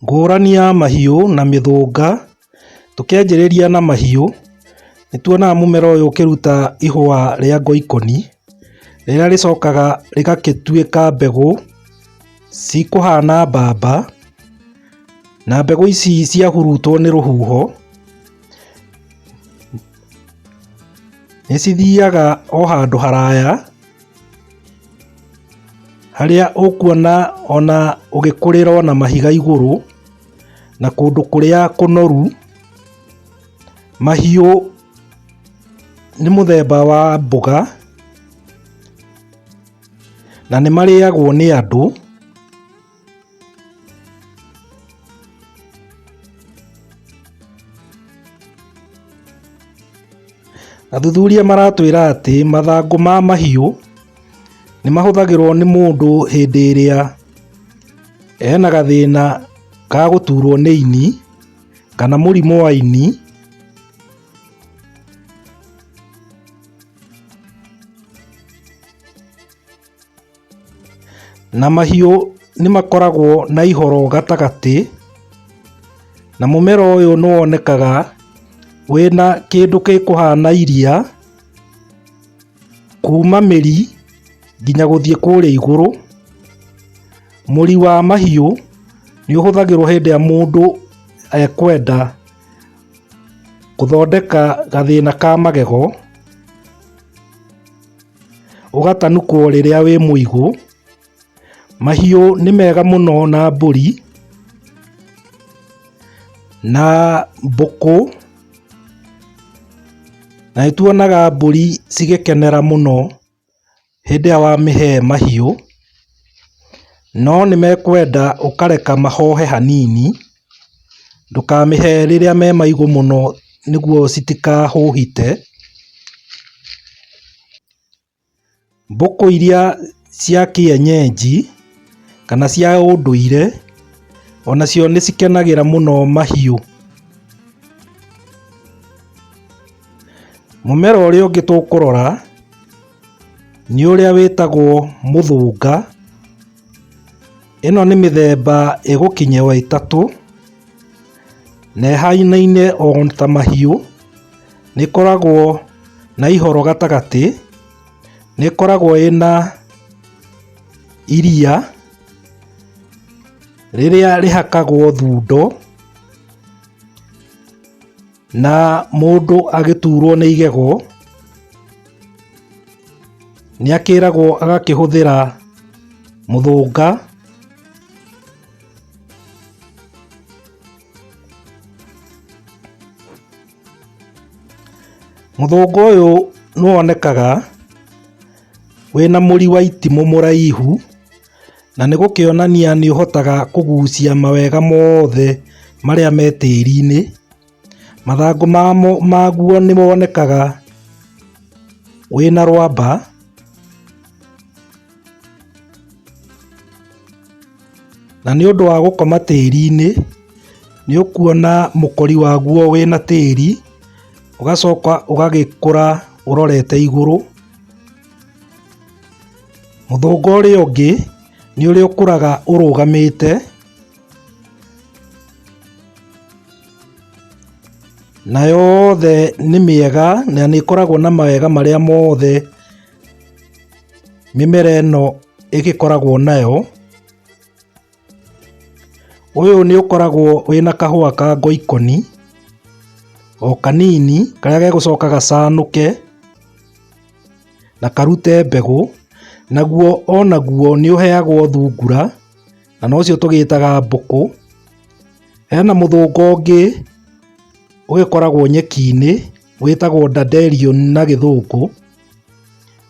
Ngũrani ya mahiũ na mĩthũnga, tũkĩanjĩrĩria na mahiũ, nĩ tuonaga mũmera ũyũ ũkĩruta ihũa rĩa ngoikoni, rĩrĩa rĩcokaga rĩgagĩtuĩka mbegũ cikũhana mbamba, na mbegũ ici ciahurutwo nĩ rũhuho, Nĩ cithiaga o handũ haraya harĩa ũkuona ona ũgĩkũrĩra ona mahiga igũrũ na kũndũ kũrĩa kũnoru. Mahiũ nĩ mũthemba wa mboga na nĩ marĩagwo nĩ andũ. Athuthuria maratwĩra atĩ mathangũ ma mahiũ nĩ mahũthagĩrũo nĩ mũndũ hĩndĩ ĩrĩa ena gathĩna ka gũturũo nĩ ini kana mũrimũ wa ini. Na mahiũ nĩ makoragwo na ihoro gatagatĩ, na mũmera ũyũ nĩ wonekaga wĩna kĩndũ gĩkũhana iria, kuma mĩri nginya gũthiĩ kũrĩa igũrũ. Mũri wa mahiũ nĩ ũhũthagĩrwo hĩndĩ ĩrĩa mũndũ ekwenda gũthondeka gathĩna ka magego. ũgatanukwo rĩrĩa wĩ mũigũ. Mahiũ nĩ mega mũno na mbũri, na mbũkũ, na nĩ tuonaga mbũri cigĩkenera mũno hĩndĩ ĩrĩa wamĩhe mahiũ, no nĩ mekwenda ũkareka mahohe hanini. Ndũkamĩhe rĩrĩa me maigũ mũno nĩguo citikahũhite. Mbũkũ iria cia kĩenyenji kana cia ũndũire onacio nĩ cikenagĩra mũno mahiũ. Mũmera ũrĩa ũngĩ tũkũrora nĩ ũrĩa wĩtagwo mũthũnga. Ĩno nĩ mĩthemba ĩgũkinyĩwa ĩtatũ, na ĩhainaine o ta mahiũ, nĩ ĩkoragwo na ihoro gatagatĩ, nĩ ĩkoragwo ĩna iria rĩrĩa rĩhakagwo thundo. Na mũndũ agĩtuurwo nĩ igego, nĩ akĩragwo agakĩhũthĩra mũthũnga, mũthũnga ũyũ nĩ wonekaga wĩna mũri wa itimũ mũraihu, na nĩ gũkĩonania nĩ ũhotaga kũgucia mawega mothe marĩa me tĩri-inĩ. Mathangũ maguo nĩ monekaga wĩna rwamba. Na nĩ ũndũ wa gũkoma tĩri-inĩ, nĩ ũkuona mũkori waguo wĩna tĩri, ũgacoka ũgagĩkũra ũrorete igũrũ. Mũthũngũ ũrĩa ũngĩ nĩ ũrĩa ũkũraga ũrũgamĩte na yothe nĩ mĩega na nĩ ĩkoragwo na mawega marĩa mothe mĩmera ĩno ĩgĩkoragwo nayo. Ũyũ nĩ ũkoragwo wĩna kahũa ka ngoikoni, o kanini karĩa gegũcoka gacanũke na karute mbegũ, naguo onaguo nĩ ũheagwo thungura na nocio tũgĩtaga mbũkũ. Hena mũthũngũ ũngĩ ũgĩkoragwo nyeki-inĩ wĩtagwo dandelion na gĩthũngũ.